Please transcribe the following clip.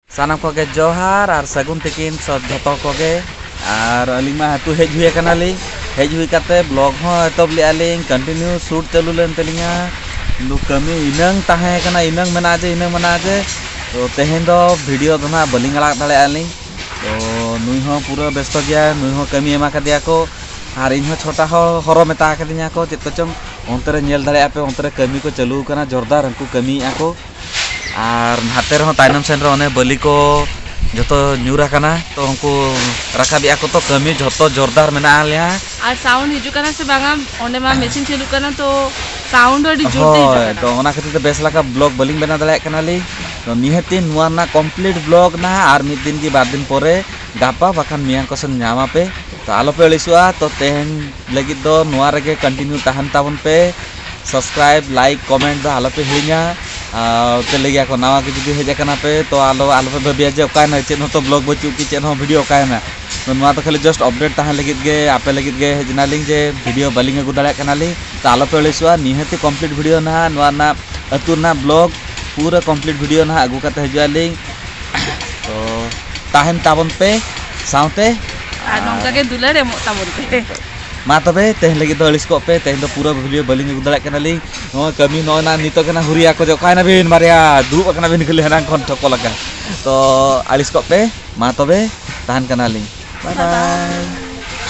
ᱥᱟᱱᱟᱢ ᱠᱚᱜᱮ ᱡᱚᱦᱟᱨ ᱟᱨ ᱥᱟᱹᱜᱩᱱ ᱛᱤᱠᱤᱱ ᱥᱚᱵ ᱡᱷᱚᱛᱚ ᱠᱚᱜᱮ ᱟᱨ ᱟᱹᱞᱤᱧ ᱢᱟ ᱟᱹᱛᱩ ᱦᱮᱡ ᱦᱩᱭ ᱟᱠᱟᱱᱟ ᱞᱤᱧ ᱦᱮᱡ ᱦᱩᱭ ᱠᱟᱛᱮ ᱵᱞᱚᱜ ᱦᱚᱸ ᱮᱛᱚᱦᱚᱵ ᱞᱮᱜᱼᱟ ᱞᱤᱧ ᱠᱚᱱᱴᱤᱱᱤᱭᱩ ᱥᱩᱴ ᱪᱟᱹᱞᱩ ᱞᱮᱱ ᱛᱟᱹᱞᱤᱧᱟ ᱠᱤᱱᱛᱩ ᱠᱟᱹᱢᱤ ᱤᱱᱟᱹᱝ ᱛᱟᱦᱮᱸ ᱠᱟᱱᱟ ᱤᱱᱟᱹᱝ ᱢᱮᱱᱟᱜᱼᱟ ᱡᱮ ᱤᱱᱟᱹᱝ ᱢᱮᱱᱟᱜᱼᱟ ᱡᱮ ᱛᱚ ᱛᱮᱦᱮᱧ ᱫᱚ ᱵᱷᱤᱰᱤᱭᱳ ᱫᱚ ᱱᱟᱦᱟᱜ ᱵᱟᱹᱞᱤᱧ ᱟᱲᱟᱜ ᱫᱟᱲᱮᱭᱟᱜᱼᱟ ᱞᱤᱧ ᱛᱚ ᱱᱩᱭ ᱦᱚᱸ ᱯᱩᱨᱟᱹ ᱵᱮᱥᱛᱚ ᱜᱮᱭᱟ ᱱᱩᱭ ᱦᱚᱸ ᱠᱟᱹᱢᱤ ᱮᱢᱟ ᱠᱟᱫᱮᱭᱟ ᱠᱚ ᱟᱨ ᱤᱧ ᱦᱚᱸ ᱪᱷᱚᱴᱟ ᱦᱚᱸ ᱦᱚᱨᱚ ᱢᱮᱛᱟ ᱠᱟᱫᱤᱧᱟ ᱠᱚ ᱪᱮᱫ ᱠᱚᱪᱚᱝ ᱚᱱᱛᱮ ᱨᱮ ᱧᱮᱞ ᱫᱟᱲᱮᱭᱟᱜᱼᱟ ᱯᱮ ᱚᱱᱛᱮ ᱨᱮ ᱠᱟᱹᱢᱤ ᱠᱚ ᱪᱟᱹᱞᱩ ᱟᱠᱟᱱᱟ ᱡᱳᱨᱫᱟᱨ ᱩᱱᱠᱩ ᱠᱟᱹᱢᱤᱭᱮᱜᱼᱟ ᱠᱚ ᱟᱨ ᱱᱟᱛᱮ ᱨᱮᱦᱚᱸ ᱛᱟᱭᱱᱚᱢ ᱥᱮᱱ ᱨᱮ ᱚᱱᱮ ᱵᱟᱹᱞᱤ ᱠᱚ ᱡᱚᱛᱚ ᱧᱩᱨ ᱟᱠᱟᱱᱟ ᱛᱚ ᱩᱱᱠᱩ ᱨᱟᱠᱟᱵ ᱮᱫᱟ ᱠᱚ ᱛᱚ ᱠᱟᱹᱢᱤ ᱡᱚᱛᱚ ᱡᱳᱨᱫᱟᱨ ᱢᱮᱱᱟᱜ ᱟᱞᱮᱭᱟ ᱟᱨ ᱥᱟᱣᱩᱱᱰ ᱦᱤᱡᱩᱜ ᱠᱟᱱᱟ ᱥᱮ ᱵᱟᱝᱟ ᱚᱸᱰᱮ ᱢᱟ ᱢᱮᱥᱤᱱ ᱪᱟᱹᱞᱩᱜ ᱠᱟᱱᱟ ᱛᱚ ᱥᱟᱣᱩᱱᱰ ᱟᱹᱰᱤ ᱡᱳᱨ ᱛᱮ ᱦᱤᱡᱩᱜ ᱠᱟᱱᱟ ᱛᱚ ᱚᱱᱟ ᱠᱷᱟᱹᱛᱤᱨ ᱛᱮ ᱵᱮᱥ ᱞᱮᱠᱟ ᱵᱞᱚᱜ ᱵᱟᱹᱞᱤᱧ ᱵᱮᱱᱟᱣ ᱫᱟᱲᱮᱭᱟᱜ ᱠᱟᱱᱟᱞᱤᱧ ᱛᱚ ᱱᱤᱦᱟᱹᱛᱤ ᱱᱚᱣᱟ ᱨᱮᱱᱟᱜ ᱠᱚᱢᱯᱞᱤᱴ ᱵᱞᱚᱜ ᱱᱟ ᱟᱨ ᱢᱤᱫ ᱫᱤᱱ ᱜᱮ ᱵᱟᱨ ᱫᱤᱱ ᱯᱚᱨᱮ ᱜᱟᱯᱟ ᱵᱟᱠᱷᱟᱱ ᱢᱮᱭᱟᱝ ᱠᱚ ᱥᱮᱱ ᱧᱟᱢᱟ ᱯᱮ ᱛᱚ ᱟᱞᱚ ᱯᱮ ᱟᱹᱲᱤᱥᱚᱜᱼᱟ ᱛᱚ ᱛᱮᱦᱮᱧ ᱞᱟᱹᱜᱤᱫ ᱫᱚ ᱱᱚᱣᱟ ᱨᱮᱜᱮ ᱠᱚᱱᱴᱤᱱᱤᱭᱩ ᱛᱟᱦᱮᱱ ᱛᱟᱵᱚᱱ ᱯᱮ ᱥᱟᱵᱥᱠᱨᱟᱭᱤᱵᱽ ᱞᱟᱭᱤᱠ ᱠᱚᱢᱮᱱᱴ ᱫᱚ ᱟᱞᱚᱯᱮ ᱦᱤᱲᱤᱧᱟ ᱯᱮ ᱞᱟᱹᱭ ᱜᱮᱭᱟ ᱠᱚ ᱱᱟᱣᱟ ᱜᱮ ᱡᱩᱫᱤ ᱦᱮᱡ ᱟᱠᱟᱱᱟ ᱯᱮ ᱛᱚ ᱟᱞᱚ ᱟᱞᱚᱯᱮ ᱵᱷᱟᱹᱵᱤᱭᱟ ᱡᱮ ᱚᱠᱟᱭᱮᱱᱟ ᱪᱮᱫ ᱦᱚᱸᱛᱚ ᱵᱞᱚᱜᱽ ᱵᱟᱹᱪᱩᱜ ᱠᱤ ᱪᱮᱫ ᱦᱚᱸ ᱵᱷᱤᱰᱤᱭᱳ ᱚᱠᱟᱭᱮᱱᱟ ᱛᱚ ᱱᱚᱣᱟ ᱫᱚ ᱠᱷᱟᱹᱞᱤ ᱡᱟᱥᱴ ᱟᱯᱰᱮᱴ ᱛᱟᱦᱮᱱ ᱞᱟᱹᱜᱤᱫ ᱜᱮ ᱟᱯᱮ ᱞᱟᱹᱜᱤᱫ ᱜᱮ ᱦᱮᱡ ᱮᱱᱟᱞᱤᱧ ᱡᱮ ᱵᱷᱤᱰᱤᱭᱳ ᱵᱟᱹᱞᱤᱧ ᱟᱹᱜᱩ ᱫᱟᱲᱮᱭᱟᱜ ᱠᱟᱱᱟᱞᱤᱧ ᱛᱚ ᱟᱞᱚᱯᱮ ᱟᱹᱲᱤᱥᱚᱜᱼᱟ ᱱᱤᱦᱟᱹᱛᱤ ᱠᱚᱢᱯᱞᱤᱴ ᱵᱷᱤᱰᱤᱭᱳ ᱱᱟᱦᱟᱜ ᱱᱚᱣᱟ ᱨᱮᱱᱟᱜ ᱟᱹᱛᱩ ᱨᱮᱱᱟᱜ ᱵᱞᱚᱜᱽ ᱯᱩᱨᱟᱹ ᱠᱚᱢᱯᱞᱤᱴ ᱵᱷᱤᱰᱤᱭᱳ ᱱᱟᱦᱟᱜ ᱟᱹᱜᱩ ᱠᱟᱛᱮ ᱦᱤᱡᱩᱜ ᱟᱹᱞᱤᱧ ᱛᱚ ᱛᱟᱦᱮᱱ ᱛᱟᱵᱚᱱ ᱯᱮ ᱥᱟᱶᱛᱮ ᱟᱨ ᱱᱚᱝᱠᱟ ᱜᱮ ᱫᱩᱞᱟᱹᱲ ᱮᱢᱚᱜ ᱛᱟᱵᱚᱱ ᱯᱮ ᱢᱟ ᱛᱚᱵᱮ ᱛᱮᱦᱮᱧ ᱞᱟᱹᱜᱤᱫ ᱫᱚ ᱟᱹᱲᱤᱥ ᱠᱚᱜ ᱯᱮ ᱛᱮᱦᱮᱧ ᱫᱚ ᱯᱩᱨᱟᱹ ᱵᱷᱤᱰᱤᱭᱳ ᱵᱟᱹᱞᱤᱧ ᱟᱹᱜᱩ ᱫᱟᱲᱮᱭᱟᱜ ᱠᱟᱱᱟᱞᱤᱧ ᱱᱚᱣᱟ ᱠᱟᱹᱢᱤ ᱱᱚᱜᱼᱚᱭ ᱱᱟ ᱱᱤᱛᱚᱜ ᱠᱟᱱᱟ ᱦᱩᱨᱤᱭᱟ ᱠᱚ ᱡᱮ ᱚᱠᱟᱭ ᱱᱟᱵᱤᱱ ᱵᱟᱨᱭᱟ ᱫᱩᱲᱩᱵ ᱟᱠᱟᱱᱟ ᱵᱤᱱ ᱠᱷᱟᱹᱞᱤ ᱦᱮᱱᱟᱝ ᱠᱷᱚᱱ ᱴᱷᱚᱠᱚ ᱞᱟᱜᱟ ᱛᱚ ᱟᱹᱲᱤᱥ ᱠᱚᱜ ᱯᱮ ᱢᱟ ᱛᱚᱵᱮ ᱛᱟᱦᱮᱱ ᱠᱟᱱᱟᱞᱤᱧ ᱵᱟᱭ ᱵᱟᱭ